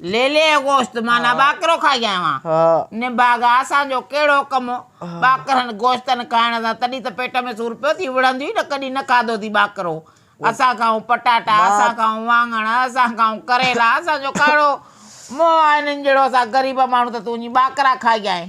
ليلي جو گوشت معنيٰ ٻاڪرو کائي آيو آهيان. نڀاڳ آ اسان جو ڪهڙو ڪم هو ٻاڪرن گوشتن کائڻ سان، تڏهن ته پيٽ ۾ سور پيو ٿي وڙهنديون ئي نه ڪڏهن نه کاڌو اٿئي ٻاڪرو. اسان کائون پٽاٽا، اسان کائون واڱڻ، اسان کائون ڪريلا، اسان جو ڪهڙو موهه آ هنن جهڙو اسان غريب ماڻهو ته تون وڃي ٻاڪرا کائي آئين.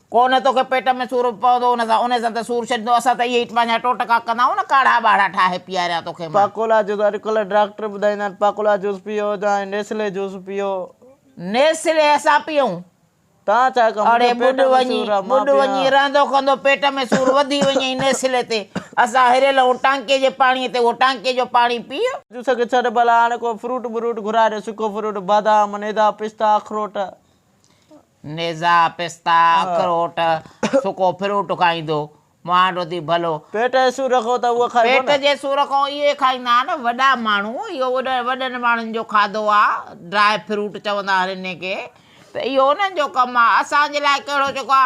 ڪو نه توکي پيٽ ۾ سور پوندو ان سان انهي سان ته سور ڇڏيندو اسان ته اهي ئي پنهنجا ٽوٽڪا ڪندا آهيون نه ڪاڙها ٻاڙها ٺاهي پياريان توکي مان. پاڪولا جوس اڄڪلهه ڊاڪٽر ٻڌائيندا آهن پاڪولا جوس پيئو جا ائين نيسلي جوس پيئو. نيسلي اسان پيئون. تان ڇا ڪيو منهنجي پيٽ ۾ سور آهي مان پيئان. اڙي ٻڏ وڃي رهندو ڪندو پيٽ ۾ سور وڌي وڃئي نيسلي تي اسان هري لهون ٽانڪي جي پاڻي تي اهو ٽانڪي جو پاڻي پيء. جوس کي ڇڏ ڀلا هاڻي ڪو فروٽ بروٽ گهرائي ڏي سڪو فروٽ بادام نيدا پستا اخروٽ. نيزا، پستا، اخروٽ، سڪو فروٽ کائيندو. مهانڊ اٿي ڀلو. پيٽ جي سور کان ته اهو کائبو نه. پيٽ جي سور کان اهو ئي کائيندا آهن وڏا ماڻهو. اهو وڏن ماڻهن جو کاڌو آ. ڊرائي فروٽ چوندا آهن انهن کي. ته اهو انهن جو ڪم آ. اسان جي لاء ڪهڙو جيڪو آ.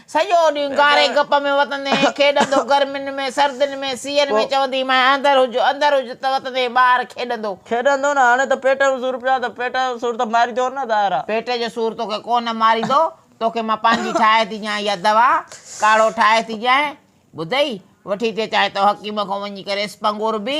سڄو ڏينهن گاري گپ ۾ وتندي ۽ کيڏندو، گرمين ۾، سردين ۾، سيئن ۾ چوندي مانء اندر هج، اندر هج ته وتندي ٻاهر کيڏندو. کيڏندو نه هاڻي ته پيٽ جو سور پيا ته پيٽ جو سور ته ماريندو نه ظاهرا. پيٽ جو سور توکي ڪو نه ماريندو، توکي مان پنهنجي ٺاهي ٿي ڏيان اها دوا، ڪاڙهو ٺاهي ٿي ڏيانء، ٻڌئي، وٺي ٿي اچانء تو حڪيم کان وڃي ڪريس پنگور به،